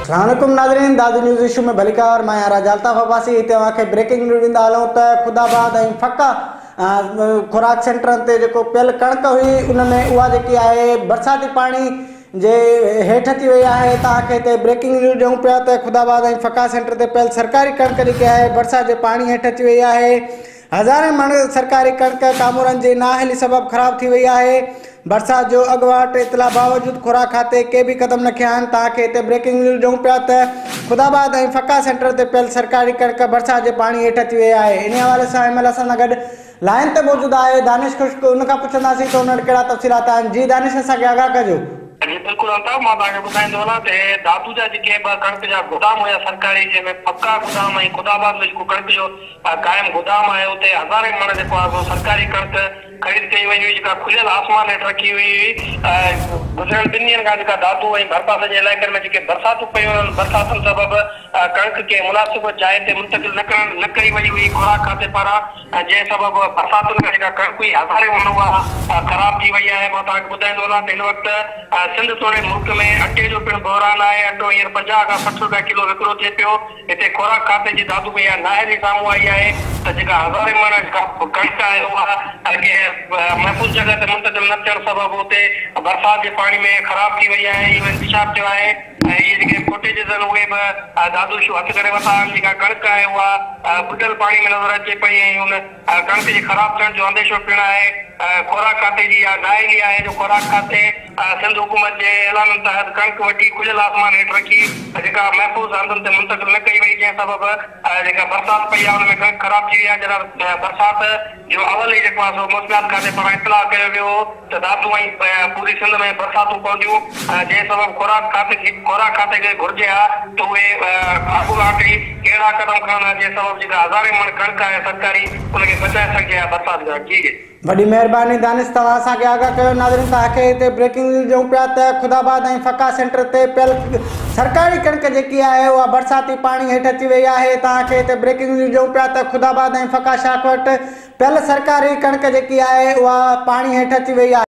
السلام عليڪم ناظرين دادو نيوز ايشو ۾ ڀليڪار مان راجا الطاف عباسي هتي اوهان کي بريڪنگ نيوز ڏيندا هلون ته خود آباد ۽ فقا خوراڪ سينٽرن تي جيڪو پيل ڪڻڪ هئي ان ۾ اها جيڪي آهي برساتي پاڻي جي هيٺ ٿي وئي آهي ته اوهان کي هتي بريڪنگ نيوز ڏيون پيا ته خود آباد ۽ فقا سينٽر تي پيل سرڪاري ڪڻڪ جيڪي آهي برسات جي پاڻي هيٺ ٿي وئي آهي هزارين مڻ سرڪاري ڪڻڪ ڪامورن جي نااهلي سبب خراب ٿي وئي آهي، برسات جو اڳواٽ اطلاع باوجود خوراڪ کاتي ڪي به قدم نه کنيا آهن، توهان کي هتي بريڪنگ نيوز ڏيون پيا ته خداآباد ۽ فقا سينٽر تي پيل سرڪاري ڪڻڪ برسات جي پاڻي هيٺ اچي وئي آهي، انهي حوالي سان ايم ايل اسان سان گڏ لائين تي موجود آهي دانش خشڪ ان کان پڇنداسين ته ان وٽ ڪهڙا تفصيلات آهن جي دانش اسان کي آگاهه ڪجو. جي بلڪل الطاف مان توهان کي ٻڌائيندو هلان ته هي دادو جا جيڪي ٻه ڪڻڪ جا گودام هيا سرڪاري جنهن ۾ فقا گودام ۽ خداآباد ۾ جيڪو ڪڻڪ جو قائم گدام آهي اتي هزارين مڻ جيڪو آهي سو سرڪاري ڪڻڪ خريد ڪئي وئي هئي جيڪا کليل آسمان هيٺ رکي هئي هئي گذريل ٻن ڏينهن کان جيڪا دادو ۽ ڀرپاسي جي علائقن ۾ جيڪي برساتون پيون انهن برساتن سبب ڪڻڪ ڪنهن مناسب جاء تي منتقل نه ڪرڻ نه ڪئي وئي هئي خوراڪ کاتي پاران جنهن سبب برساتن کان جيڪا ڪڻڪ هئي هزارين مڻ اها خراب ٿي وئي آهي مان توهان کي ٻڌائيندو هلان ته هن وقت سنڌ توڙي ملڪ ۾ اٽي جو پڻ بحران آهي اٽو هينئر پنجاهه کان سٺ روپيا ڪلو وڪرو ٿئي پيو هتي خوراڪ کاتي جي دادو ۾ اها نااهلي سامهون آئي آهي ته جيڪا هزارين مڻ ڪڻڪ آهي اها ڪنهن محفوظ جڳهه تي منتقل نه ٿيڻ سبب اتي برسات جي پاڻي ۾ خراب ٿي وئي آهي اهو انڪشاف ٿيو آهي ۽ اهي جيڪي فوٽيجز آهن اهي به دادو شو هٿ ڪري ورتا آهن جيڪا ڪڻڪ آهي اها ٻڏل پاڻي ۾ نظر اچي پئي ۽ ان ڪڻڪ جي خراب ٿيڻ جو انديشو پڻ آهي، خوراڪ کاتي جي اها ڊاهه الي آهي جو خوراڪ کاتي سنڌ حڪومت جي اعلانن تحت ڪڻڪ وڍي کليل آسمان هيٺ رکي جيڪا محفوظ هنڌن تي منتقل نه ڪئي وئي جنهن سبب جيڪا برسات پئي آهي ان ۾ ڪڻڪ خراب ٿي وئي آهي جڏهن برسات جو اول هي جيڪو آهي سو موسميات کاتي پاران اطلاع ڪيو ويو هو ڌاڌون ۽ پوري سنڌ ۾ برساتون پونديون جنهن سبب خوراڪ کاتي کي گهرجي ها ته اهي اڳواٽ ئي اهڙا قدم کڻن ها جنهن سبب جيڪا هزارين مڻ ڪڻڪ آهي سرڪاري ان کي بچائي سگهجي ها برسات کان جي. وڏي مهرباني دانش توهان اسان کي آگاهه ڪيو ناظرين توهان کي هتي بريڪنگ نيوز ڏيون پيا ته خداآباد ۽ فقا سينٽر تي پيل سرڪاري ڪڻڪ جيڪي آهي اها برساتي پاڻي هيٺ اچي وئي آهي توهان کي هتي بريڪنگ نيوز ڏيون پيا ته خداآباد ۽ فقا شاخ وٽ پيل سرڪاري ڪڻڪ جيڪي آهي اها پاڻي هيٺ اچي وئي آهي.